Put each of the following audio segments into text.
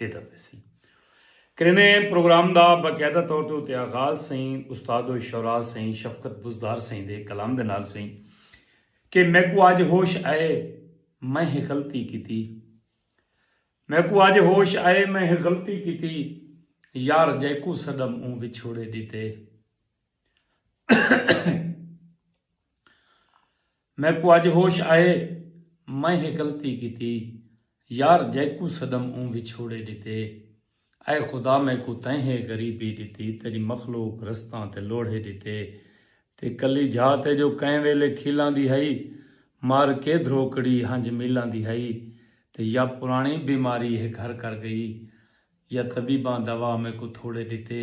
ݙیتا ویسی۔ کرینے پروگرام دا باقاعدہ طور تے اتے آغاز سئیں استاد الشعراء سئیں شفقت بزدار سئیں دے کلام دے نال سئیں کہ میکوں آج ہوش آئے میں ہک غلطی کیتی میکوں آج ہوش آئے میں ہک غلطی کیتی یار جیکوں سݙم اوں وچھوڑے ݙیتے۔ میکوں اج ہوش آئے میں ہے غلطی کیتی یار جیکوں سڈم اوں وچھوڑے ڈتے اے خدا میکوں تیں ہے غریبی ڈتی تیری مخلوق رستاں تے لوڑھے ڈتے تے کلی جھاہ تے جو کئیں ویلے کھیلاں دی ہئی مار کے دھروکڑی ہنج میلاں دی ہئی تے یا پرانی بیماری ہے گھر کر گئی یا طبیباں دوا میکوں تھوڑے ڈتے۔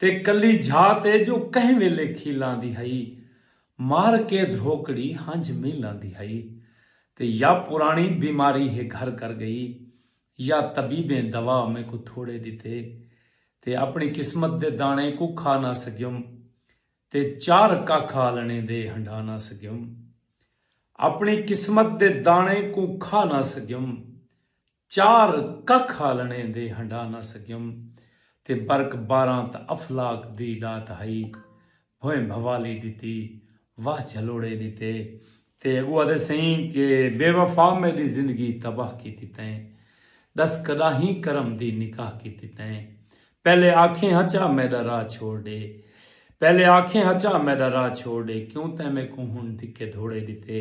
تے کلی جھاہ تے جو کہیں ویلے کھیلاں دی ہئی مار کے دھروکڑی ہنجھ میلاں دی ہئی تے یا پراݨی بیماری ہے گھر کر ڳئی یا طبیبیں دوا میکوں تھوڑے ݙتے تے اپݨی قسمت دے داݨے کوں کھا نہ سڳیم تے چار ککھ آلݨے دے ہنڈھا نہ سڳیم اپݨی قسمت دے داݨے کوں کھا نہ سڳیم چار ککھ آلݨے دے ہنڈا نہ سڳیم تے برک باراں تاں افلاک دی ݙات ہئی، بھوئیں بھوالی ݙتی، واہ جھلوڑے ݙتے تے اڳوں آہدے سئیں کہ بے وفا میݙی زندگی تباہ کیتی تئیں، ݙس کݙاہیں کرم دی نکاح کیتی تئیں، پہلے آکھیں ہا چا میڈا راہ چھوڑ ڈے پہلے آکھیں ہا چا میڈا راہ چھوڑ ڈے کیوں تیں میکوں ہن دھکے دھوڑے ڈتے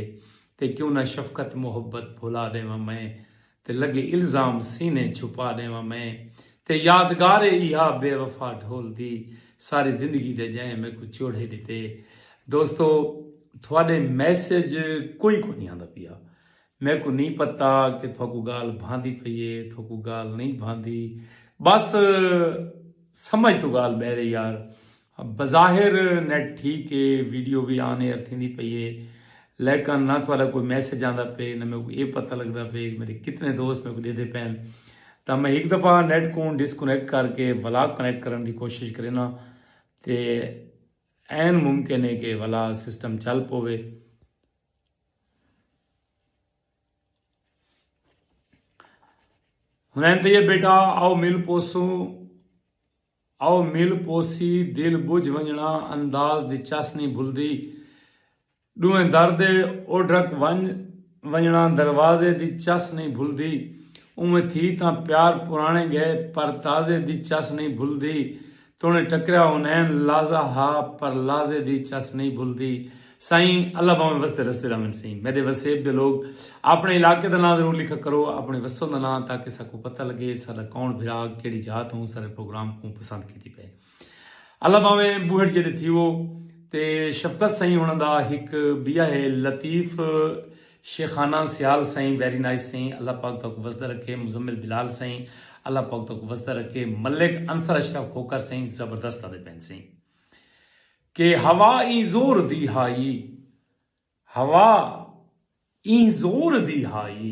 تے کیوں نہ شفقت محبت بھلا ڈیواں میں تے لگے الزام سینے چھپا ڈیواں میں تے یادگار اے ایہا بے وفا ڈھول دی ساری زندگی دے جئیں میکوں چوڑھے ڈتے دوستو تھوڈے میسج کوئی کونی آندا پیا میکوں نی پتہ کہ تھوکوں گالھ بھاندی پئی اے تھوکوں گالھ نئیں بھاندی بس سمجھ توں گالھ بہرے یار بظاہر نیٹ ٹھیک اے ویڈیو وی آن ایئر تھیندی پئی اے لیکن نہ تہاڈا کوئی میسج آندا پئے نہ میکوں اے پتہ لگدا پئے کہ میڈے کتنے دوست میکوں ڈیدھے پئن تاں میں ہک دفعہ نیٹ کوں ڈسکنیکٹ کر کے ولا کنیکٹ کرن دی کوشش کرینا تے این ممکن ہے کہ ولا سسٹم چل پوے ہنین تیئے بیٹا او مل پوسو او مل پوسی دل بجھ ونجنا انداز دی چس نی بھلدی ڈوہیں در دے اوڈھک ونج ونجنا دروازے دی چس نی بھلدی اوویں تھی تاں پیار پرانے گئے پر تازے دی چس نی بھلدی تونے ٹکریا ہونین لازہ ہا پر لازے دی چس نئیں بھلدی سائیں اللہ بھاویں وسدے رسدے رہون سئیں میڈے وسیب دے لوگ اپنے علاقے دا ناں ضرور لکھا کرو اپنے وسوں دا ناں تاکہ ساکوں پتہ لگے ساڈا کون بھرا کیڑی جاہ توں سارے پروگرام کوں پسند کیتی پئے اللہ بھاویں بوہڑ جے دے تھیو تے شفقت سائیں انہاں دا ہک بیا ہے لطیف شیخانہ سیال سائیں ویری نائس سائیں اللہ پاک تہاکوں وسدا رکھے مزمل بلال سائیں اللہ پاک تہاکوں وسدا رکھے ملک انصر اشرف کھوکھر سائیں زبردست آدے پین سائیں کہ ہوا ایں زور دی ہائی ہوا ایں زور دی ہائی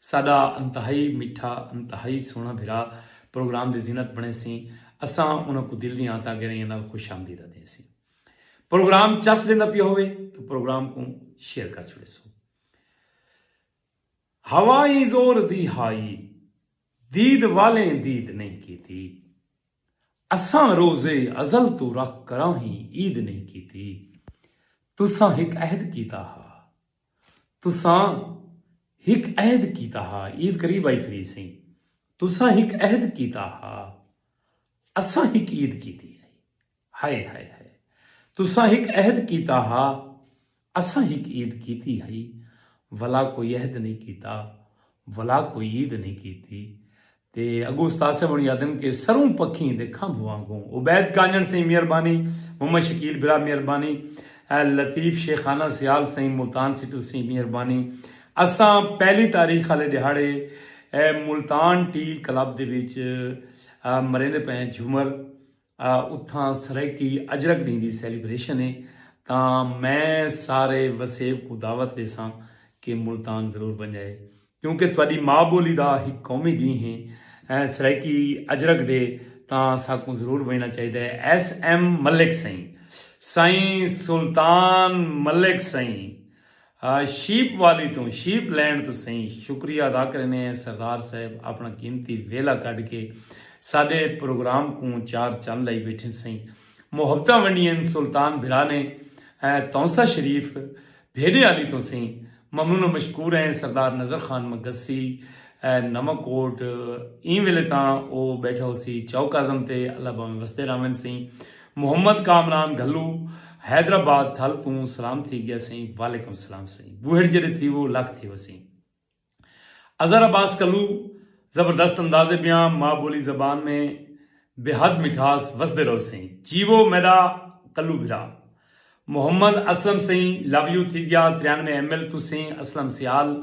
ساڈا انتہائی میٹھا انتہائی سوہنڑا بھرا پروگرام دی زینت بنڑے سی اساں انہاں کوں دل دیاں آنتاں گہرائیاں نال خوش آمدید آدھیں سی پروگرام چس ویندا پیا ہوے تو پروگرام کوں شیئر کر چھوڑے سو ہوائی زور دی ہائی دید والیں دید نہیں کیتی اساں روزے ازل تو رکھ کراں ہی عید نہیں کیتی تساں ہک عہد کیتا ہا تساں ہک عہد کیتا ہا، عید قریب آئی کھڑی سی، تساں ہک عہد کیتا ہا، اساں ہک عید کیتی ہئی، ہائے ہائے ہائے۔ تساں ہک عہد کیتا ہا، اساں ہک عید کیتی ہئی، ولا کوئی عہد نئیں کیتا، ولا کوئی عید نئیں کیتی، تے اگوں استاد صاحب ہنڑی آدھن کہ سروں پکھیں دے کھمب وانگوں عبید کانجڑ سئیں مہربانی محمد شکیل برا مہربانی لطیف شیخانہ سیال سئیں ملتان سٹو سئیں مہربانی اساں پہلی تاریخ آلے ڈیہاڑے ملتان ٹی کلب دے وچ مریندے پئے جھومر اتھاں سرائیکی اجرک ڈینہہ دی سیلیبریشن اے تاں میں سارے وسیب کوں دعوت ڈیساں کہ ملتان ضرور ونجائے کیونکہ تہاڈی ماء بولی دا ہک قومی ڈینہہ اے سرائیکی اجرک ڈے تاں اساکوں ضرور ونجنا چاہیدا اے ایس ایم ملک سئیں سائیں سلطان ملک سئیں شیپ والی توں شیپ لینڑ توں سئیں شکریہ ادا کریندے ہیں سردار صاحب اپنڑاں قیمتی ویلہ کڈھ کے ساڈے پروگرام کوں چار چن لائی بیٹھے سئیں محبتاں ونڈیئن سلطان بھرا نے تونسہ شریف بھیڈے آلی توں سئیں ممنون و مشکور ہیں سردار نذر خان مگسی نواں کوٹ ایں ویلے تاں او بیٹھا ہوسی چوک اعظم تے اللہ بھاویں وسدے راہون سئیں محمد کامران گھلو حیدرآباد تھل توں سلام تھی گیا سئیں وعلیکم السلام سئیں بوہڑ جیڑے تھیوو لکھ تھیو سئیں اظہر عباس کلو زبردست انداز بیاں ماں بولی زبان میں بے حد مٹھاس وسدے رہو سئیں جیوو میڈا کلو بھرا محمد اسلم سئیں لو یو تھی گیا تریانوے ایم ایل توں سئیں اسلم سیال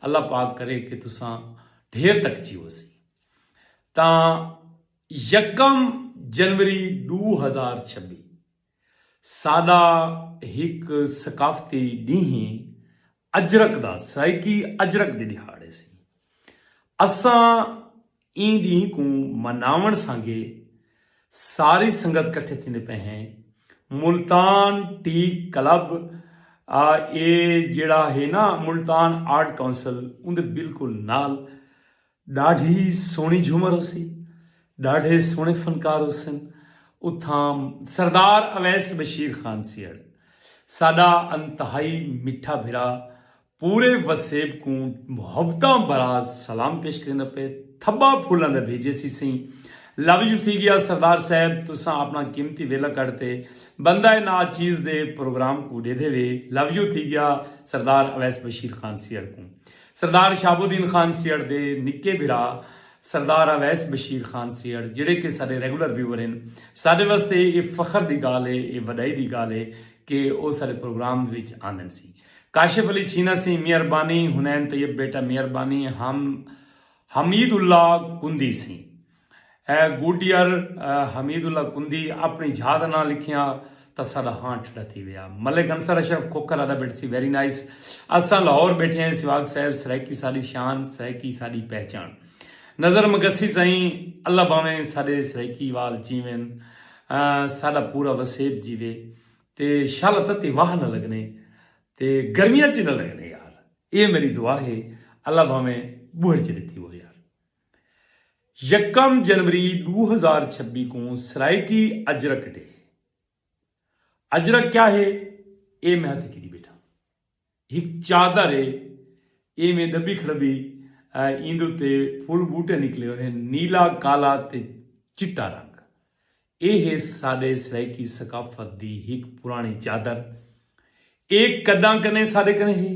اللہ پاک کرے کہ تساں ڈھیر تک جیوو سئیں تاں یکم جنوری ݙو ہزار چھبی ساݙا ہک ثقافتی ݙینہہ اجرک دا سرائیکی اجرک دی ݙیہاڑ ہیسی۔ اساں ایں ݙینہہ کوں مناوݨ سانگے ساری سنگت کٹھے تھیندے پئے ہیں۔ ملتان ٹی کلب اے جیڑھا ہے نا ملتان آرٹ کونسل اوندے بالکل نال ݙاڈھی سوہݨی جھومر ہوسی ݙاڈھے سوہݨے فنکار ہوسن اتھاں سردار اویس بشیر خان سیڑھ ساڈا انتہائی مٹھا بھرا پورے وسیب کوں محبتاں براز سلام پیش کریندا پے تھبا پھولاں دا بھیجے سی سئیں لو یو تھی گیا سردار صاحب تساں اپنا قیمتی ویلا کڈھ تے بندہ نا چیز دے پروگرام کوں ڈیدھے وے لو یو تھی گیا سردار اویس بشیر خان سیڑھ کوں سردار شہاب الدین خان سیہڑ دے نکے بھرا سردار اویس بشیر خان سیہڑ جیڑھے کہ ساڈے ریگولر ویور ہن ساڈے واسطے اے فخر دی گالھ اے اے وڈائی دی گالھ اے کہ او ساڈے پروگرام وچ آندن سی کاشف علی چھینا سی میئر بانی حنین طیب بیٹا میئر بانی ہم حمید اللہ کندی سی اے گوڈیئر حمید اللہ کندی اپنڑی جھا دا ناں لکھیاں تاں ساڈا ہاں ٹھڈا تھی ویا۔ ملک انصر اشرف کھوکھر آدا بیٹھے سی ویری نائس اساں لاہور بیٹھے ہیں سواگ صاحب سرائیکی ساڈی شان سرائیکی ساڈی پہچان نظر مگسی سائیں اللہ باویں ساڈے سرائیکی وال جیون ساڈا پورا وسیب جیوے تے شل تتی واہ نہ لگنے تے گرمیاں چ نہ لگنے یار اے میری دعا ہے اللہ باویں بوہڑ چ ڈتی وو یار۔ یکم جنوری ݙو ہزار چھبی کوں سرائیکی اجرک ڈے ہے۔ اجرک کیا ہے؟ اے میں ہتھیں گھدی ٻیٹھاں۔ ہک چادر ہے۔ اے میں ݙبی کھڑدی ایندے اتے پھل ٻوٹے نکلے ہوئے ہن نیلا کالا تے چٹا رنگ۔ اے ہے ساݙے سرائیکی ثقافت دی ہک پراݨی چادر۔ اے کݙاں کنیں ساݙے کنیں ہے۔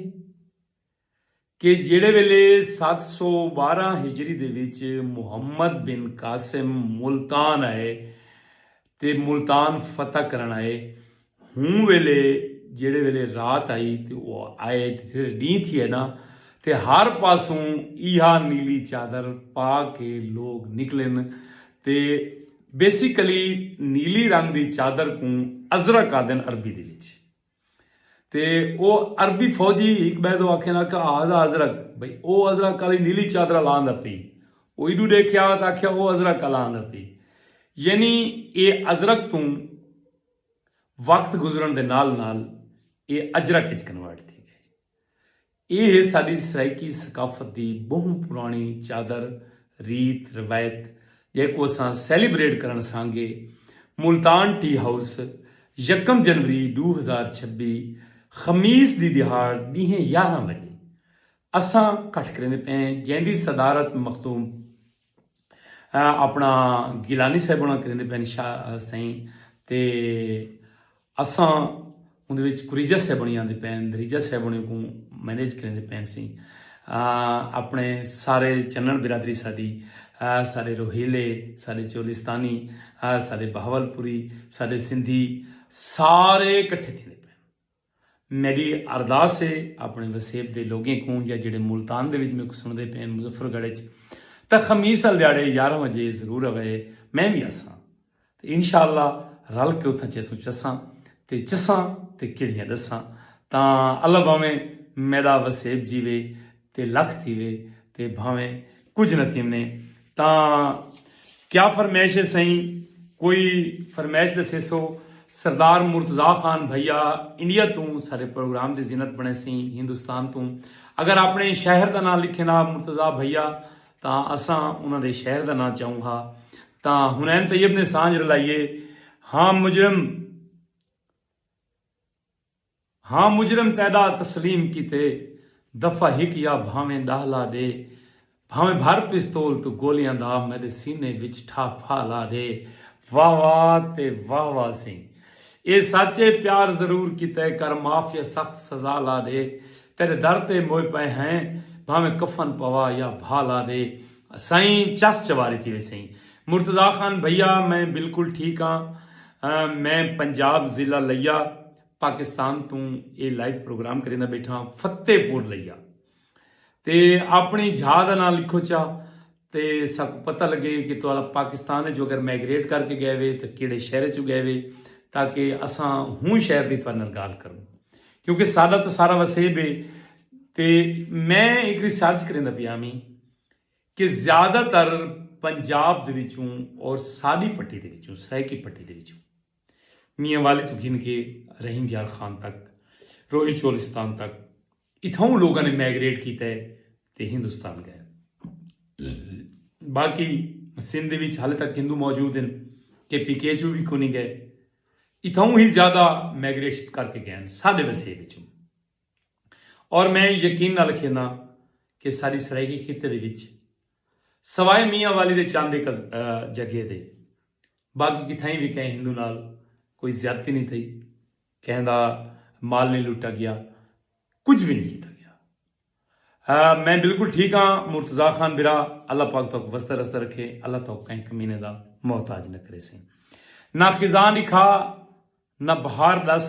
کہ جیڑھے ویلے ست سو ٻارہاں ہجری دے وچ محمد بن قاسم ملتان آئے تے ملتان فتح کرݨ آئے ہوں ویلے جیڑھے ویلے رات آئی تے او آئے تے جیڑھے ݙینہہ تھیے نا تے ہر پاسوں ایہا نیلی چادر پا کے لوک نکلن تے بیسیکلی نیلی رنگ دی چادر کوں ازرق آہدن عربی دے وچ۔ تے او عربی فوجی ہک بئے دو آکھے نا کہ ہاذا ازرق بھئی او ازرق کالی نیلی چادرا لا آندا پئی او ایڈو ڈیکھیا تے آکھیا او ازرق کالا آندا پئی یعنی اے ازرق توں وقت گزرن دے نال نال اے اجرق اچ کنورٹ تھی گئے۔ ایہ ہے ساݙی سرائیکی ثقافت دی ٻہوں پراݨی چادر، ریت، روایت جیکوں اساں سیلیبریٹ کرݨ سانگے ملتان ٹی ہاؤس یکم جنوری ݙو ہزار چھبی خمیس دی ݙیہاڑ ݙینہہ یارہاں وڄے اساں کٹھ کریندے پئے ہیں جیندی صدارت مخدوم اپنا گیلانی صاحب ہونا کریں پین شاہ سائیں تے اساں اندر وچ کریجہ صاحب ہونے آندے پین دریجہ صاحب ہونے کو مینیج کریں دے پین سائیں اپنے سارے چنن برادری ساڈی سارے روہیلے سارے چولستانی سارے بہاول پوری سارے سندھی سارے کٹھے تھے میڈی ارداس ہے اپنے وسیب دے لوگیں کوں یا جڑے ملتان دے وچ میکوں سنڑدے پین مظفر گڑھ وچ تاں خمیس آل دیاڑے یارہ وجے ضرور اوئے میں وی آساں تے انشاءاللہ رل کے اتھاں چیسوں چساں تے چساں تے کیڑھیاں ڈساں تاں اللہ باویں میڈا وسیب جیوے تے لکھ تھیوے تے بھانویں کجھ نہ تھیونے تاں کیا فرمائش ہے سئیں کوئی فرمائش ڈسیسو سردار مرتضی خان بھیا انڈیا توں ساڈے پروگرام دی زینت بنیسیں ہندوستان توں اگر اپنے شہر دا ناں لکھیں نا مرتضی بھیا تاں اساں انہاں دے شہر دا ناں چاؤں ہا تاں حنین طیب نے سانجھ رلائیے ہاں مجرم ہاں مجرم تیڈا تسلیم کیتے دفعہ ہک یا بھانویں ڈاہ لا ڈے بھانویں بھر پستول توں گولیاں دا میڈے سینے وچ ٹھاہ پھا لا ڈے واہ واہ تے واہ واہ سیں اے سچ اے پیار ضرور کیتے کر معاف یا سخت سزا لا ڈے تیڈے در تے موئے پئے ہیں بھانویں کفن پوا یا بھا لا ڈے سئیں چس چواری تھی ویسیں مرتضی خان بھیا میں بالکل ٹھیک ہاں۔ میں پنجاب ضلع لیا پاکستان توں اے لائیو پروگرام کریندا بیٹھا فتح پور لیا تے اپنی جھا دا نام لکھو چا تے ساکو پتہ لگے کہ توالا پاکستان جو اگر میگریٹ کر کے گئے وے تو کیڑے شہر چو گئے وے تاکہ اساں ہوں شہر دی توالا گال کروں کیونکہ سادہ تو سارا وسیب ہے تے میں ایک ریسرچ کریندا پیا میں کہ زیادہ تر پنجاب دے وچوں اور ساڈی پٹی دے وچوں سرائیکی پٹی دے وچوں میاں والی تو گھن کے رحیم یار خان تک روہی چولستان تک اتھاؤں لوگاں نے میگریٹ کیتا ہے تے ہندوستان گئے باقی سندھ دے وچ حالے تک ہندو موجود ہیں کہ پی کے چوں بھی کونی گئے اتھاؤں ہی زیادہ میگریشن کر کے گئے ہیں ساڈے وسیب وچوں اور میں یقین نال کھینداں کہ ساڈی سرائیکی خطے دے وچ سوائے میاں والی دے چند ایک جگہ دے باقی کتھائیں وی کہیں ہندو نال کوئی زیادتی نہیں تھئی کہیں دا مال نہیں لٹا گیا کچھ بھی نہیں کیتا گیا میں بالکل ٹھیک ہاں مرتضی خان برا اللہ پاک تو وستا رستہ رکھے اللہ تو کہیں کمینے دا محتاج نہ کرے سیں نہ خزاں لکھا نہ بہار دس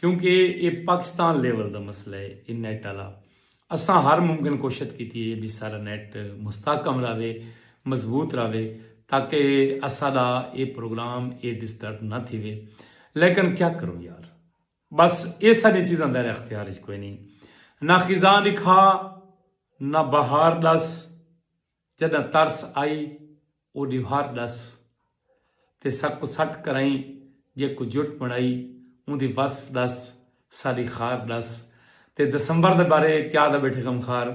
کیونکہ اے پاکستان لیول دا مسئلہ اے اے نیٹ آلا۔ اساں ہر ممکن کوشت کیتی اے بی سارا نیٹ مستحکم راوے، مضبوط راوے تاکہ اساڈا اے پروگرام اے ڈسٹرب نہ تھیوے۔ لیکن کیا کروں یار۔ بس اے ساڈیاں چیزاں دائرہ اختیار اچ کوئنی۔ نہ خزاں ڈکھا نہ بہار ڈس۔ جݙاں ترس آئی او ݙیوار ݙس تے ساکوں سٹ کرائیں جیکوں جٹ بݨائی اوندی وصف ݙس ساݙی خار ݙس تے دسمبر دے بارے کیا دا ٻیٹھے غمخار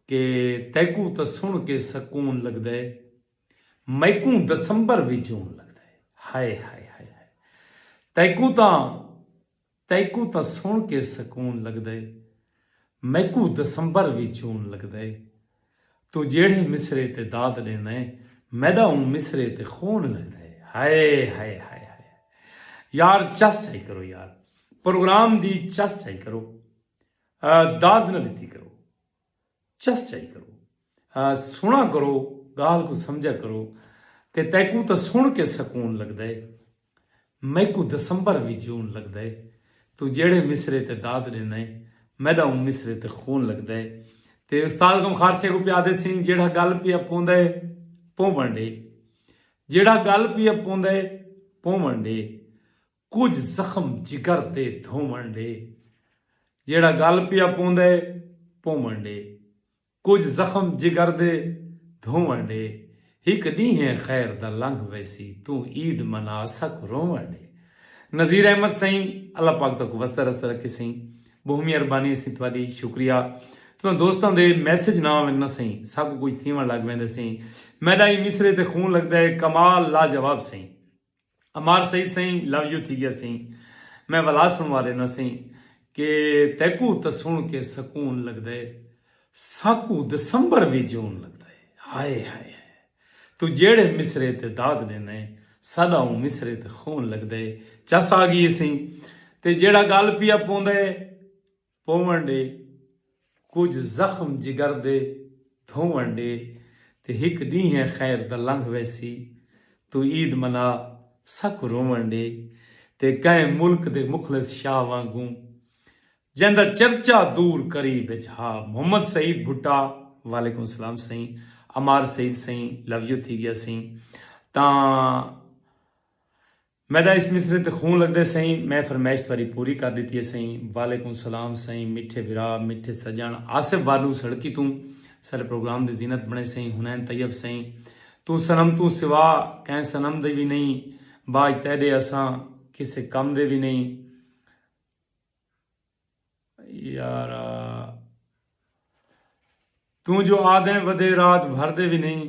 کہ تیکوں تاں سݨ کے سکون لڳدا ہے میکوں دسمبر وی جون لڳدا ہے ہائے ہائے ہائے ہائے تیکوں تاں تیکوں تاں سݨ کے سکون لڳدئے میکوں دسمبر وی جون لڳدئے توں جیڑھے مصرعے تے داد ݙیندئیں میݙا اوں مصرعے تے خون لڳدئے ہائے ہائے ہائے ہائے یار چس چائی کرو یار پروگرام دی چس چائی کرو داد نہ ݙتی کرو۔ چس چائی کرو سنا کرو گال کو سمجھا کرو کہ تیکو تا سن کے سکون لگ دے میکو دسمبر وی جون لگ دے تو جیڑے مصرے تے داد دینا ہے میڈا اون مصرے تے خون لگ دے تے استاد کم خارسے کو پیا دے سین جیڑا گل پیا پون دے پون بنڈے جیڑا گل پیا پون دے پون بنڈے کجھ زخم جگر تے دھووݨ ݙے۔ جیڑھا ڳل پیا پوندے پووݨ ݙے۔ کجھ زخم جگر دے دھووݨ ݙے۔ ہک ݙینہہ خیر دا لنگھ ویسی توں عید منا اساکوں رووݨ ݙے۔ نذیر احمد سئیں اللہ پاک تہاکوں وسدا رسدا رکھے سئیں بہوں مہربانی اسیں تہاݙی شکریہ تساں دوستاں دے میسج نہ آون نہ سئیں ساکوں کجھ تھیوݨ لڳ ویندے سئیں میݙا ایں مصرعے تے خون لڳدا ہے کمال لاجواب سئیں۔ عمار سعید سئیں لو یو تھی گیا سئیں میں ولا سنوا دینا سئیں کہ تیکو تے سن کے سکون لگدا ہے ساکو دسمبر وی جون لگدا ہے ہائے ہائے ہائے تو جیڑے مصرے تے داد دینا ہے ساڈا اون مصرے تے خون لگدا ہے چس آ گئی سئیں تے جیڑا گال پیا پوندا ہے پوون ڈے، کجھ زخم جگر دے دھوون ڈے تے ہک ڈینہہ خیر دا لنگھ ویسی توں عید منا ساکوں روون ڈے تے کہیں ملک دے مخلص شاہ وانگوں جیندا چرچا دور قریب اچ ہا محمد سعید بھٹا وعلیکم سلام سئیں عمار سعید سئیں لو یو تھی گیا سئیں تاں میڈا اس مصرعے تے خون لگدے سئیں میں فرمائش تہاڈی پوری کر ڈتی ہے سئیں۔ وعلیکم سلام سئیں میٹھے بھرا میٹھے سجن آصف وارنو سڑکی توں ساڈے پروگرام دی زینت بنے سئیں حنین طیب سئیں توں صنم توں سوا کہیں صنم دی وی نہیں باج تہڈے اساں کسے کم دے وی نہیں یارا توں جو آدھیں ودے رات بھر دے وی نہیں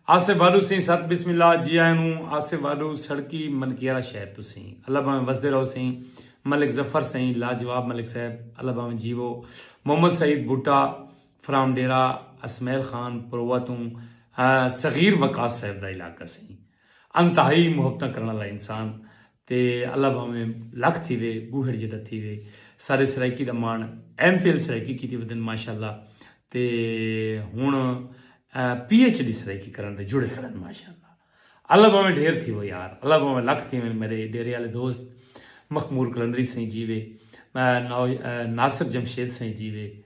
آسے والو سیں ست بسم اللہ جی آئے نو آسے والو سڑکی منکیرا شہر تو سیں اللہ باویں وسدے رہو سیں ملک ظفر سیں لاجواب ملک صاحب اللہ باویں جیو محمد سعید بوٹا فرام ڈیرا اسمیل خان پروا تو صغیر وقاص صاحب دا علاقہ سیں انتہائی محبتاں کرن والا انسان تے اللہ بھانویں لکھ تھیوے بوہڑ جیڈا تھیوے سارے سرائیکی دا مان ایم فل سرائیکی کیتی ودن ماشاءاللہ تے ہن پی ایچ ڈی سرائیکی کرن دے جڑے کھڑن ماشاءاللہ اللہ بھانویں ڈھیر تھیو یار اللہ بھانویں لکھ تھیوے میرے ڈیرے والے دوست مخمور کلندری سائیں جیوے ناصر جمشید سائیں جیوے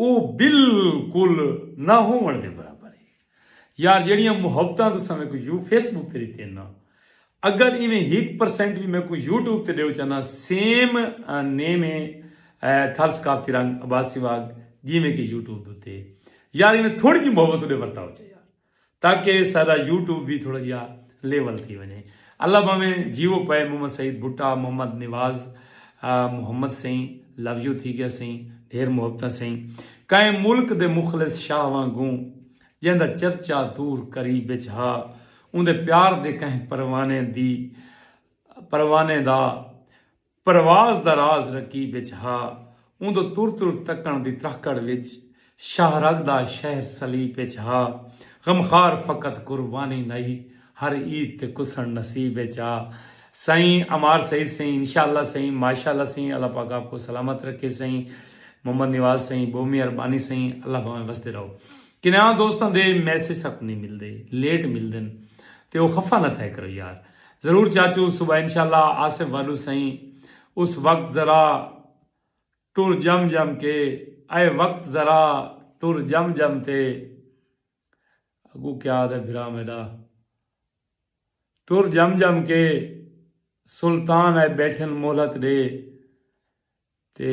او بالکل نہ ہووݨ دے برابر ہے۔ یار جیڑھیاں محبتاں تساں میکوں یو فیس بک تے ݙتیاں نا اگر ایویں ہک پرسنٹ وی میکوں یوٹیوب تے ݙیو چا نا سیم نیم ہے تھر ثقافتی رنگ عباسی واگ جیویں کہ یوٹیوب دتے یار ایویں تھوڑی جی محبت ݙے ورتاؤ چا یار۔ تاکہ ساڈا یوٹیوب وی تھوڑا جیہا لیول تھی ونجے اللہ بھاویں جیو پئے محمد سعید بھٹہ محمد نواز محمد سئیں لو یو تھی گیا سئیں ڈھیر محبتاں سئیں کائیں ملک دے مخلص شاہ وانگوں جیندا چرچا دور قریب وچ ہا اوندے پیار دے کہیں پروانے دی پروانے دا پرواز دا راز رقیب اچ ہا اوندو تر تر تکݨ دی ترہکڑ وچ شاہ رگ دا شہر سلیپ اچ ہا غمخوار فقط قربانی نئی ہر عید تے کسݨ نصیب اچ ہا سئیں عمار سعید سئیں انشاء اللہ سئیں ماشاء اللہ سئیں اللہ پاک آپ کوں سلامت رکھے سئیں محمد نواز سئیں بہو مہربانی سئیں اللہ بھاویں وسدے رہو کناں دوستاں دے میسج سک نہیں ملدے لیٹ ملدن تے او خفا نہ تھے کرو یار ضرور چاچو صبح انشاءاللہ آصف واڈو سئیں اس وقت ذرا ٹر جم جم کے اے وقت ذرا ٹر جم جم تے اگوں کیا آدھے بھرا میڈا ٹر جم جم کے سلطان اے بیٹھن مہلت ڈے تے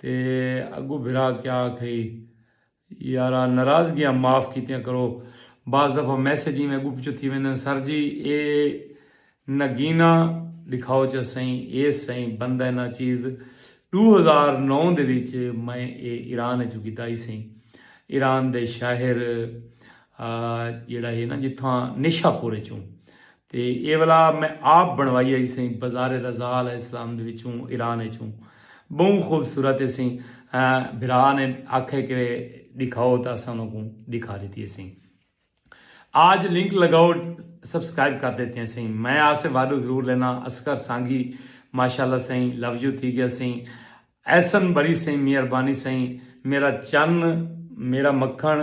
تے اگوں بھرا کیا آکھئی یارا ناراضگیاں معاف کیتیاں کرو بعض دفعہ میسج ایویں اگوں پچھوں تھی ویندن سر جی اے نگینہ ڈکھاؤ چا سئیں ایس سئیں بندہ نا چیز ڈو ہزار نو دے وچ میں اے ایران اچوں گدائی سئیں ایران دے شاہر جیڑا ہے نا جتھاں نیشا پور اچوں تے ایہ ولا میں آپ بݨوائی ہئی سئیں بازار رضاء علیہ السلام دے وچوں ایران وچوں ٻہوں خوبصورت ہے سئیں بھرا نے آکھئے کہ ݙکھاؤ تاں اساں انہاں کوں ݙکھا ݙتی ہے سئیں آج لنک لگاؤ سبسکرائب کر دیتے ہیں سئیں میں آسے واڈو ضرور لینا اصغر سانگی ماشاءاللہ سئیں لو یو تھی گیا سئیں احسن بری سئیں مہربانی سئیں میرا چن میرا مکھن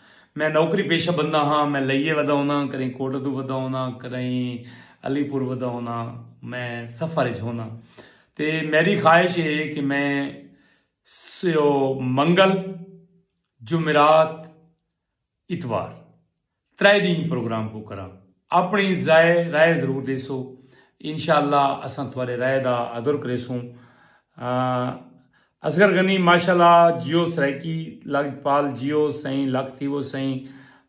میں نوکری پیشہ بندہ ہاں میں لئیے ودا ہونداں کدیں کوٹہ توں ودا ہونداں کدیں علی پور ودا ہونداں میں سفر اچ ہونداں تے میڈی خواہش اے کہ میں سو منگل جمعرات اتوار ترے ڈینہہ پروگرام کو کراں اپنی ضائع رائے ضرور ڈیسو انشاءاللہ اساں تھوڑے رائے دا ادر کریسوں اصغر غنی ماشاءاللہ جیو سرائیکی لجپال جیو سئیں لکھ تھیوو سئیں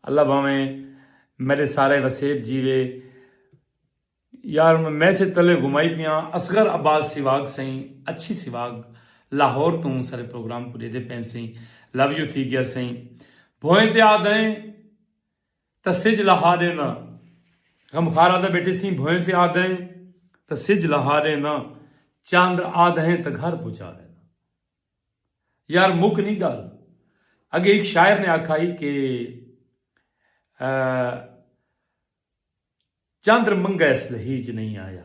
اللہ بھاویں میڈے سارے وسیب جیوے یار میں سے تلے گھمائی پیاں اصغر عباس سیواگ سئیں اچھی سیواگ لاہور توں سارے پروگرام کو دیدے پین سئیں لو یو تھی گیا سئیں بھوئیں تے آدھیں تاں سجھ لہا ݙینداں۔ غم خوار آہدا بیٹے سئیں بھوئیں تے آدھئیں تاں سجھ لہا ݙینداں۔ چاندر آدھئیں تاں گھر پہنچا ݙینداں۔ یار مک نی ڳالھ اڳے ہک شاعر نے آکھا ہئی کہ چندر منگا اس لہیج نئیں آیا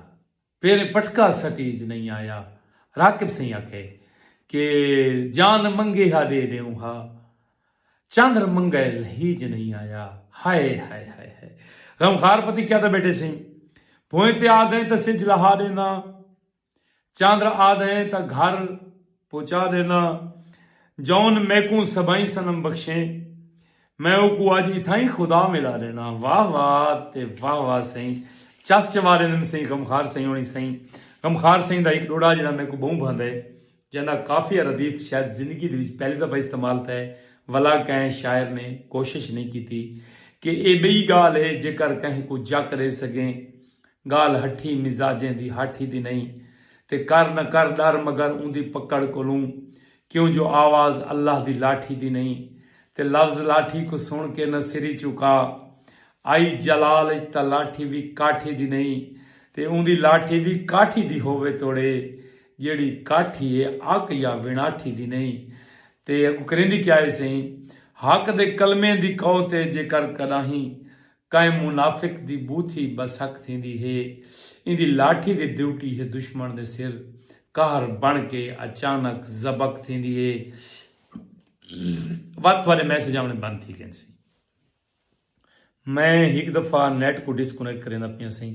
پیریں پٹکا سٹیج نئیں آیا راکب سئیں آکھے کہ جان منگے ہا ڈے ڈیوں ہا چندر منگا اس لہیج نئیں آیا ہائے ہائے ہائے ہائے غمخار پتی کیا تاں بیٹھے سئیں بھوئیں تے آ گئیں تاں سج لہا ڈینداں چاندر آدھئیں تاں گھر پہنچا ݙینداں۔ جون میکوں سبھئیں صنم بخشیں۔ میں اوکوں اڄ اتھائیں خدا ملا ݙینداں۔ واہ واہ تے واہ واہ سئیں۔ چس چواریندن سئیں غمخوار سئیں ہوݨی سئیں۔ غمخوار سئیں دا ہک ݙوہڑا جیڑھا میکوں ٻہوں بھاندا ہے۔ جیندا قافیہ ردیف شاید زندگی دے وچ پہلی دفعہ استعمال تھیا ہے ولا کہیں شاعر نے کوشش نئیں کیتی کہ اے ٻئی ڳالھ ہے جیکر کہیں کوں جک ݙے سڳیں ڳالھ ہٹھی مزاجیں دی ہاٹھی دی نئیں تے کر نہ کر ݙر مگر اوندی پکڑ کولوں کیوں جو آواز اللہ دی لاٹھی دی نئیں تے لفظ لاٹھی کوں سݨ کے نہ سری چوکا آئی جلال اچ تاں لاٹھی وی کاٹھی دی نئیں تے اوندی لاٹھی وی کاٹھی دی ہووے توڑے جیڑھی کاٹھی اے اک یا وݨاٹھی دی نئیں تے اگوں کریندی کیا اے سئیں حق دے کلمیں دی قوت اے جیکر کݙاہیں کئیں منافق دی بوتھی بسک تھیندی ہے۔ ایندی لاٹھی دی ڈیوٹی ہے دشمن دے سر قہر بݨ کے اچانک زبک تھیندی ہے۔ ود تھوڑے میسج آوݨے بند تھی گئن سی۔ میں ہک دفعہ نیٹ کوں ڈسکنیکٹ کریندا پیاں سئیں۔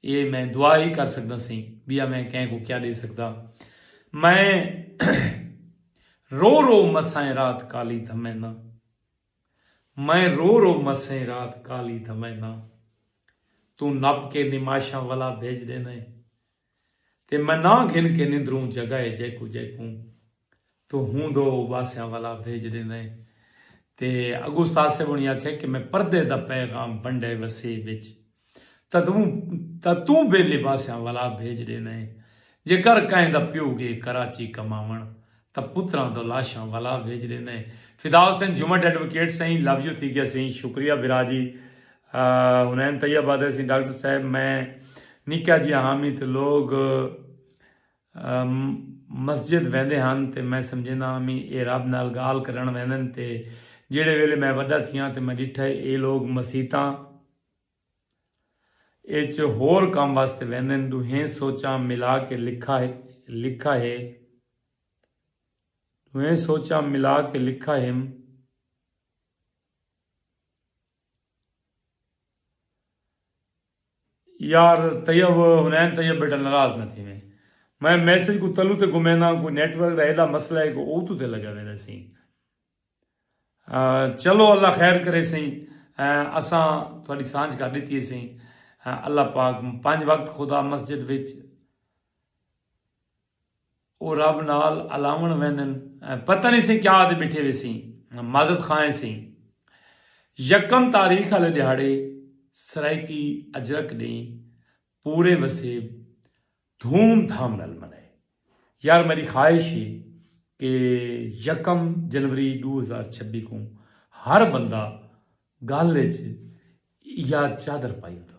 اے میں دعا ہی کر سکداں سئیں بیا میں کہیں کوں کیا ڈے سکداں میں رو رو مسائیں رات کالی دھمینداں میں رو رو مسائیں رات کالی دھمینداں توں نپ کے نماشاں ولا بھیج ڈیندیں تے میں ناں گھن کے نندروں جگائے جیکوں جیکوں توں ہوں دو اباسیاں والا بھیج ڈیندے تے اگو استاد صاحب ہونی آکھے کہ میں پردے دا پیغام ونڈے وسے وچ تاں توں بے لباسیاں والا بھیج ڈیندے جے کر کہیں دا پیو گے کراچی کماون تاں پتراں دو لاشاں والا بھیج ڈیندے فدا حسین جھومٹ ایڈوکیٹ سئیں لو یو تھی گیا سئیں شکریہ بھرا جی ہنین طیب آدھے سئیں ڈاکٹر صاحب میں نکا جی ہامی تے لوگ مسجد ویندے ہن تے میں سمجھیندا ہاں میں اے رب نال گالھ کرݨ ویندن تے جیڑھے ویلے میں وڈا تھیاں تے میں ڈٹھا ہے اے لوگ مسیتاں اچ ہور کم واسطے ویندن ڈوہیں سوچاں ملا کے لکھا ہے ڈوہیں سوچاں ملا کے لکھا ہم یار طیب حنین طیب بیٹا ناراض نہ تھیویں میں میسج کوں تلو تے گھمینداں کوئی نیٹ ورک دا ایڈا مسئلہ ہے کہ اوتو تے لگا ویندے سیں چلو اللہ خیر کرے سیں اساں تہاڈی سانجھ کر ڈتی ہے سیں اللہ پاک پنج وقت خدا مسجد وچ او رب نال الاوݨ ویندن پتہ نی سئیں کیا آدھے ٻیٹھے ویسیں مازت خواہ ایں سئیں یکم تاریخ آلے ݙیہاڑے سرائیکی اجرک ݙینہہ پورے وسیب دھوم دھام نال منائے یار میݙی خواہش اے کہ یکم جنوری ݙو ہزار چھبی کوں ہر بندہ ڳل اچ یا چادر پائی ہوندا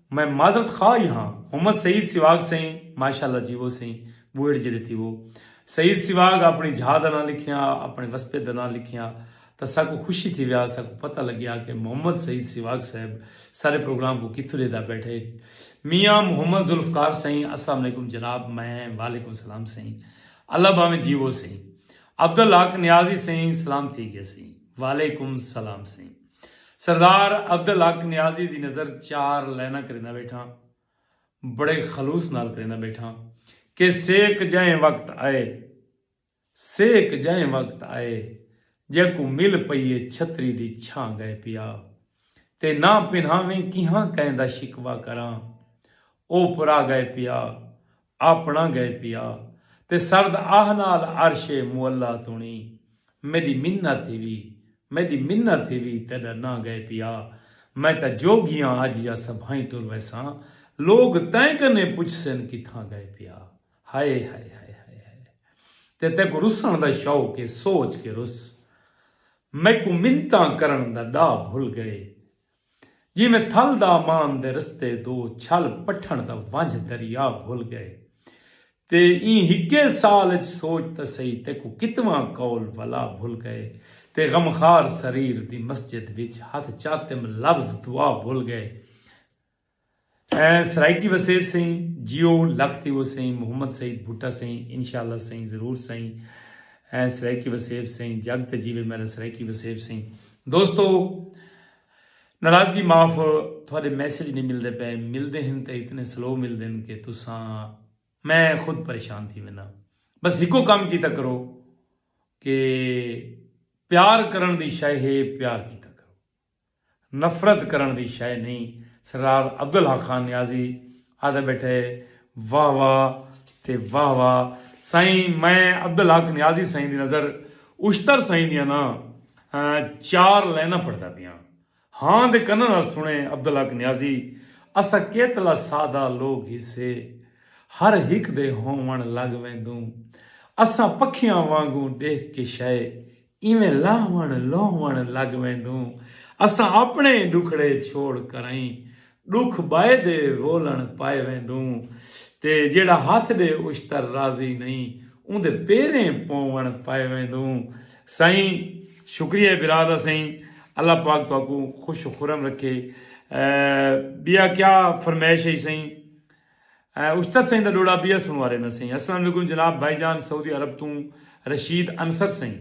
میں معذرت خواہ ہی ہاں۔ محمد سعید سیواگ سئیں ماشاءاللہ جیوو سئیں بوئڑ جیرے تھیوو سعید سیواگ اپنڑی جھا دا ناں لکھیا اپنڑے وسپے دا ناں لکھیا تاں ساکوں خوشی تھیوے آ ساکوں پتہ لگیا کہ محمد سعید سیواگ صاحب سارے پروگرام کوں کتھوں لیدا بیٹھے میاں محمد ذوالفقار سئیں السلام علیکم جناب میں وعلیکم السلام سئیں اللہ باویں جیوو سئیں عبدالحق نیازی سئیں سلام تھی گئے سئیں وعلیکم السلام سئیں۔ سردار عبدالحق نیازی دی نظر چار لائناں کریندا بیٹھاں بڑے خلوص نال کریندا بیٹھاں کہ سیک جئیں وقت آئے سیک جئیں وقت آئے جیکوں مل پئی اے چھتری دی چھاں گئے پیا تے نہ پنہاویں کیہاں کئیں دا شکوہ کراں او پرا گئے پیا آپنڑاں گئے پیا تے سرد آہ نال عرش معلی تونی میڈی منت تھیوی میڈی منت تھیوی تیڈا ناں گئے پیا میں تاں جوگیاں اج یا سبھائیں ٹر ویساں لوگ تیں کنیں پچھسن کتھاں گئے پیا ہائے ہائے ہائے ہائے ہائے تے تیکوں رسنڑ دا شوق اے سوچ کے رس میکوں منتاں کرنڑ دا ڈاہ بھل گئے جیویں تھل دامان دے رستے دو چھل پٹھݨ دا ونجھ دریا بھل ڳئے تے ایں ہکے سال اچ سوچ تاں سہی تیکوں کتواں قول ولا بھل ڳئے تے غمخار سریر دی مسجد وچ ہتھ چاتم لفظ دعا بھل ڳئے سرائیکی وسیب سئیں جیو لکھ تھیوو سئیں محمد سعید بھٹہ سئیں انشاءاللہ سئیں ضرور سئیں سرائیکی وسیب سئیں جگ تے جیوے میرا سرائیکی وسیب سئیں دوستو ناراضگی معاف تھوڑے میسج نہیں ملدے پے ملدے ہیں تے اتنے سلو ملدے ہیں کہ تساں میں خود پریشان تھی وینا بس ہکو کام کیتا کرو کہ پیار کرن دی شے ہے پیار کیتا نفرت کرݨ دی شئے نئیں، سردار عبدالحق خان نیازی آہدے ٻیٹھے واہ واہ تے واہ واہ سئیں میں عبدالحق نیازی سئیں دی نظر اشتر سئیں دیاں نہ چار لائناں پڑھدا پیاں ہاں دے کناں نال سݨے عبدالحق نیازی اساں کیتلا سادہ لوک ہیسے ہر ہک دے ہووݨ لڳ ویندوں اساں پکھیاں وانگوں ݙیکھ کے شئے ایویں لاہوݨ لوہوݨ لڳ ویندوں اساں اپݨے ای ݙکھڑے چھوڑ کرائیں ݙکھ ٻئے دے رولݨ پائے ویندوں تے جیڑھا ہتھ ݙے اشتر راضی نئیں اوندے پیریں پووݨ پائے ویندوں سئیں شکریہ ہے برا دا سئیں اللہ پاک تہاکوں خوش و خرم رکھے ٻیا کیا فرمائش ہئی سئیں۔ استد سئیں دا ڈوڑا بیا سنوا رہندا سئیں۔ السلام علیکم جناب بھائی جان سعودی عرب توں رشید انصر سئیں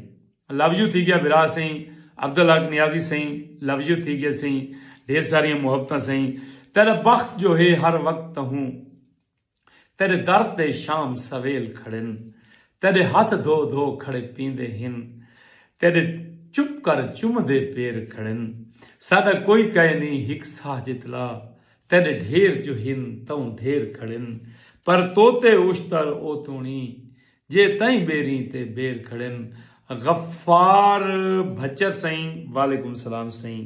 لو یو تھی گیا بھرا سئیں عبدالحق نیازی سئیں لو یو تھی گیا سئیں ڈھیر ساریاں محبتاں سئیں تیڈا بخت جو ہے ہر وقت تہوں تیڈے در تے شام سویل کھڑن تیڈے ہتھ دھو دھو کھڑے پیندے ہن تیڈے چپ کر چمدے پیر کھڑن ساڈا کوئی کئے نی ہک ساہ جتلا تیݙے ڈھیر جو ہن تئوں ڈھیر کھڑن پر توتے اشتر او توݨی جے تئیں ٻیریں تے ٻیر کھڑن غفار بھچر سئیں وعلیکم السلام سئیں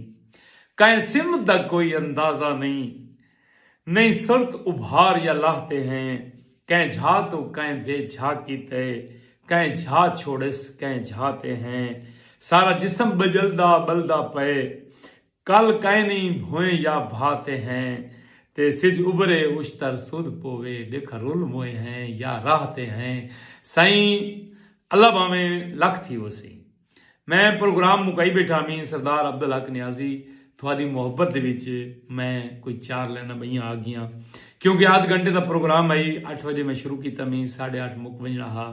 کائیں سمت دا کوئی اندازہ نئیں نئیں سرت ابھار یا لاہ تے ہیں کائیں جھا توں کائیں بے جھا کیتے کائیں جھا چھوڑس کائیں جھا تے ہیں سارا جسم ٻڄلدا ٻلدا پئے کل کائنی بھوئیں یا بھا تے ہیں تے سجھ ابھرے اشتر سدھ پووے ڈکھ رل موئیں ہیں یا راہ تے ہیں سائیں اللہ بھاویں لکھ تھی وسیں میں پروگرام مکائی بیٹھا ہمیں سردار عبدالحق نیازی تھوادی محبت دے وچ میں کوئی چار لائناں بئیاں آگیاں کیونکہ آدھ گھنٹے دا پروگرام ہئی اٹھ وجے میں شروع کیتا ہمیں ساڑھے اٹھ مک ونجنا ہا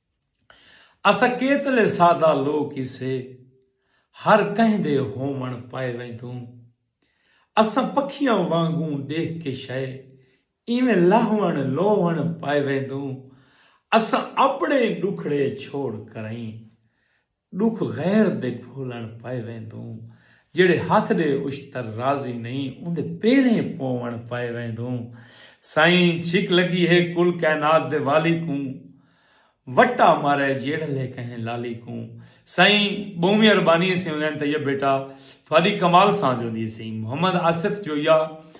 اساں کیتلے سادہ لوک ہیسے ہر کہیں دے ہووݨ پائے ویندوں اساں پکھیاں وانگوں ݙیکھ کے شئے ایویں لہوݨ لووݨ پائے ویندوں اساں اپݨے ݙکھڑے چھوڑ کرئیں ݙکھ غیر دے گھولݨ پئے ویندوں جیڑھے ہتھ ݙے اشتر راضی نئیں اوندے پیریں پووݨ پئے ویندوں سائیں چھک لڳی ہے کل کائنات دے والی کوں وٹا مارے جیڑھلے کہیں لالی کوں سائیں ٻہوں میں اربانی سیں حسین طیب بیٹا تھاݙی کمال سانجھ ہوندی ہے سئیں محمد آصف جویا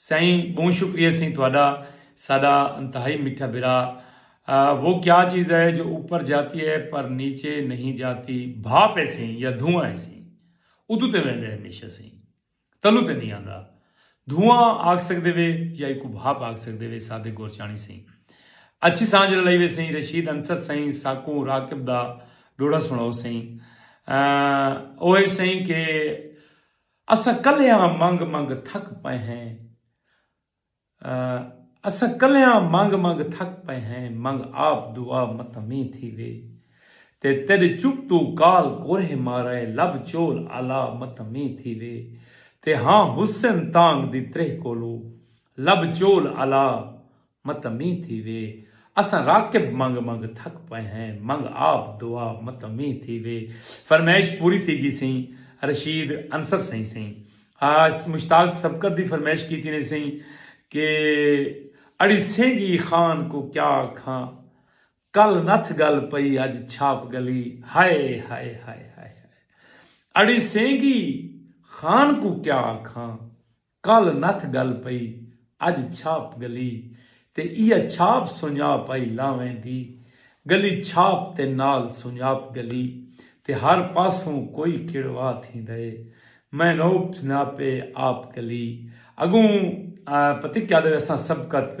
سئیں بہوں شکریہ سئیں تہاڈا ساڈا انتہائی میٹھا بھرا وہ کیا چیز ہے جو اوپر جاتی ہے پر نیچے نہیں جاتی بھاپ ہے سئیں یا دھواں ہے سئیں ادو تے ویندے ہمیشہ سئیں تلو تے نہیں آندا دھواں آکھ سکدے وے یا ایکو بھاپ آکھ سکدے وے صادق گورچانی سئیں اچھی سانجھ رلائی وے سئیں رشید انصر سئیں ساکوں راکب دا ڈوڑا سناؤ سئیں اوہ سئیں کہ اساں کلیاں منگ منگ تھک پئے ہیں اساں کلیاں منگ منگ تھک پئے ہیں منگ آپ دعا متاں مینہ تھیوے تے تیڈے چپ توں کال کورھے مارائے لب چول آلا متاں مینہ تھیوے تے ہاں حسن تانگ دی تریہہ کولو لب چول آلا متاں مینہ تھیوے اساں راکب منگ منگ تھک پئے ہیں منگ آپ دعا متاں مینہ تھیوے فرمائش پوری تھی گیسیں رشید انصر سئیں سئیں آس مشتاق سبقت دی فرمائش کیتی نے سئیں کہ اڑی سینگی خان کوں کیا آکھاں کل نتھ گل پئی اج چھاپ گلی ہائے ہائے ہائے ہائے ہائے اڑی سینگی خان کوں کیا آکھاں کل نتھ گل پئی اج چھاپ گلی تے ایہ چھاپ سنڄاپ آئی لا ویندی گلی چھاپ تے نال سنڄاپ گلی تے ہر پاسوں کوئی کڑوا تھیندا اے میں نوپ سنڄاپے آپ گلی اڳوں پتہ کیا دے اساں سبقت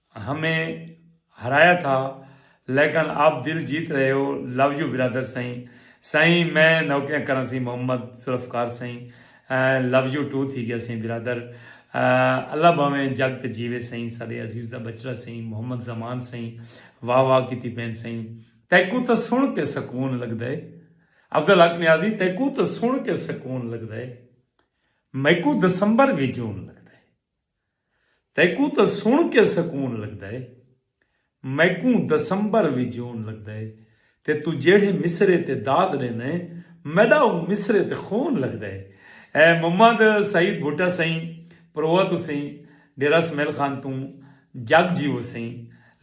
ہمیں ہرایا تھا لیکن آپ دل جیت رہے ہو لو یو برادر سائیں سائیں میں نوکریاں کراں سی محمد ذوالفقار سائیں لو یو ٹو تھی گیا سائیں برادر اللہ بھاویں جگ تے جیوے سائیں ساڈے عزیز دا بچڑا سائیں محمد زمان سائیں واہ واہ کیتی پین سائیں تیکوں تاں سن کے سکون لگدا ہے عبدالحق نیازی تیکوں تاں سن کے سکون لگدا ہے میکوں دسمبر وی جون لگدا ہے۔ تیکوں تاں سݨ کے سکون لڳدا ہے میکوں دسمبر وی جون لڳدا ہے تے توں جیڑھے مصرعے تے داد ݙیندا ہیں میݙا اوں مصرعے تے خون لڳدا ہے اے محمد سعید بھٹہ سئیں پروہ توں سئیں ݙیرہ سمیل خان توں جڳ جیوو سئیں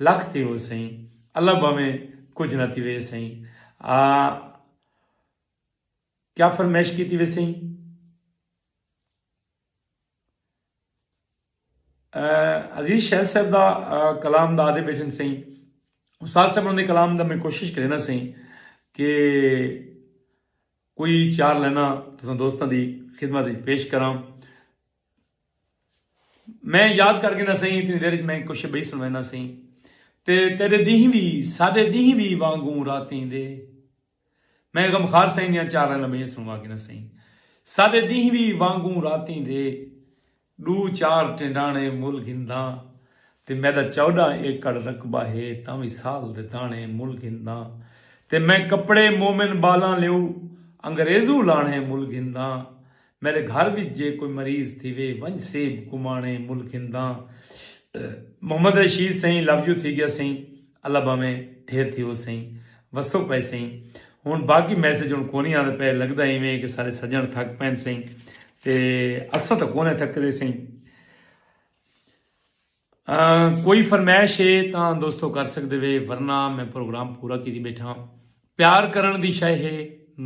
لکھ تھیوو سئیں اللہ بھانویں کجھ نہ تھیوے سئیں آ کیا فرمائش کیتی وے سئیں۔ عزیز شہد صاحب دا کلام دا آدھے بیٹھن سہی استاد صاحب انہوں نے کلام دا میں کوشش کرنا سہی کہ کوئی چار لینا تو دوستوں دی خدمت پیش کراں میں یاد کر کے نہ سہی اتنی دیر میں کچھ بہی سنوینا سہی تے تیرے ڈیہی بھی سارے ڈیہی بھی وانگوں راتیں دے میں غمخار سئیں دیاں چاراں لمیں سنوا گھناں سئیں ساڈے ڈینہہ وی وانگوں راتیں دے ڈو چار ٹنڈانے مل گھنداں تے میڈا چوڈاں ایکڑ رقبہ ہے تاں وی سال دے دانے مل گھنداں تے میں کپڑے مومن بالاں لیو انگریزو لانے مل گھنداں میݙے گھر وچ جے کوئی مریض تھیوے ونج سیب کماݨے ملک ہنداں محمد رشید سئیں لو یو تھی گیا سئیں اللہ بھاویں ڈھیر تھیوو سئیں وسو پئے سئیں ہن باقی میسج ہن کونی آندے پئے لگدا ایویں کہ سارے سجن تھک پین سئیں تے اساں تاں کونے تھکدے سئیں کوئی فرمائش ہے تاں دوستو کر سکدے وے ورنہ میں پروگرام پورا کیتی بیٹھا پیار کرن دی شے ہے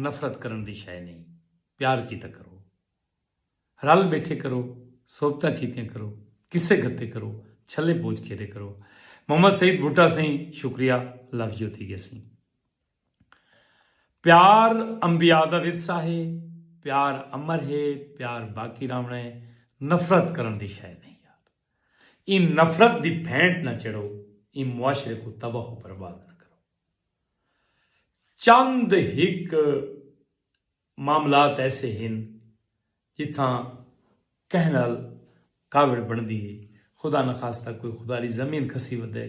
نفرت کرن دی شے نہیں پیار کیتا کرو۔ رل ٻیٹھے کرو۔ صحبتاں کیتیاں کرو۔ قصے گھتے کرو۔ چھلے پوچ کھیݙے کرو۔ محمد سعید بھٹہ سئیں شکریہ لو یو تھی ڳیسی۔ پیار انبیاء دا ورثہ ہے۔ پیار امر ہے۔ پیار باقی رہوݨا ہے۔ نفرت کرݨ دی شئے نئیں یار۔ ایں نفرت دی بھینٹ نہ چڑھو۔ ایں معاشرے کوں تباہ و برباد نہ کرو۔ چند ہک معاملات ایسے ہن جتھاں کہیں نال کاوڑ بݨدی ہے، خدا نخواستہ کوئی خداری زمین کھسی ودے،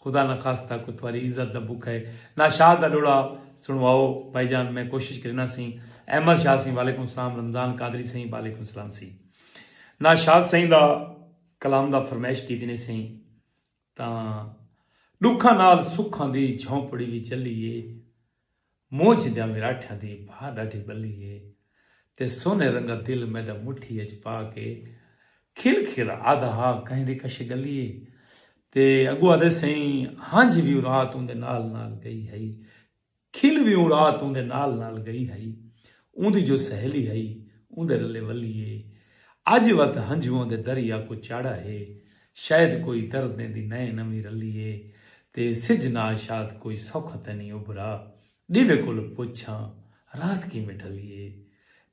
خدا نخواستہ کوئی تھواری عزت دا بکھا ہے، ناشاد دا ݙوڑا سݨواؤ بھائی جان میں کوشش کرینا سئیں، احمد شاہ سئیں وعلیکم السلام، رمضان قادری سئیں وعلیکم السلام سئیں ناشاد سئیں دا کلام دا فرمائش کیتی نے سئیں تاں ݙکھاں نال سکھاں دی جھونپڑی وی چلی اے۔ مونجھ دیاں وراٹھیاں دی بھا ݙاڈھی ٻلی اے تے سونے رنگا دل میݙا مٹھی اچ پا کے کھل کھل آہدا ہا کہیں دی کشے ڳلی اے تے اڳو آہدے سئیں ہنجھ وی اورات اوندے نال نال ڳئی ہئی کھل وی اوں رات اوندے نال نال گئی ہئی۔ اوندی جو سہیلی ہئی اوندے رلے ولی اے۔ اج وت ہنجواں دے دریا کوں چاڑھا ہے۔ شاید کوئی دردیں دی نئیں نویں رلی اے۔ تے سجھ ناشاد کوئی سوکھا تینی ابھرا۔ ڈیوے کولو پچھاں رات کیویں ڈھلی اے۔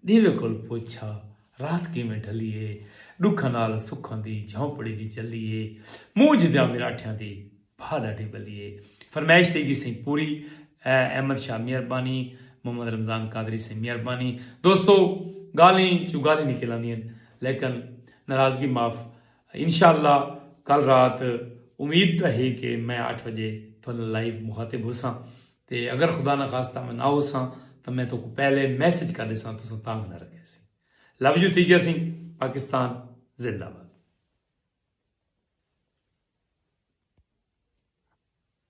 ݙیوے کول پچھ آ رات کیویں ڈھلی اے ݙکھاں نال سکھاں دی جھونپڑی وی جلی اے مونجھ دیاں مراٹھیاں دی بھا ݙاڈھی ٻلی اے فرمائش تھئی گی سئیں پوری احمد شاہ مہربانی محمد رمضان قادری سئیں مہربانی دوستو ڳالھیں چوں ڳالھیں نکل آندین لیکن ناراضگی معاف انشاء اللہ کل رات امید تاں ہے کہ میں اٹھ وجے تھوڑے نال لائیو مخاطب ہوساں تے اگر خدا نخواستہ میں نہ ہوساں تاں میں تہاکوں پہلے میسج کر ݙیساں تساں تانگھ نہ رکھیسی لو یو تھی گیا سی پاکستان زندہ باد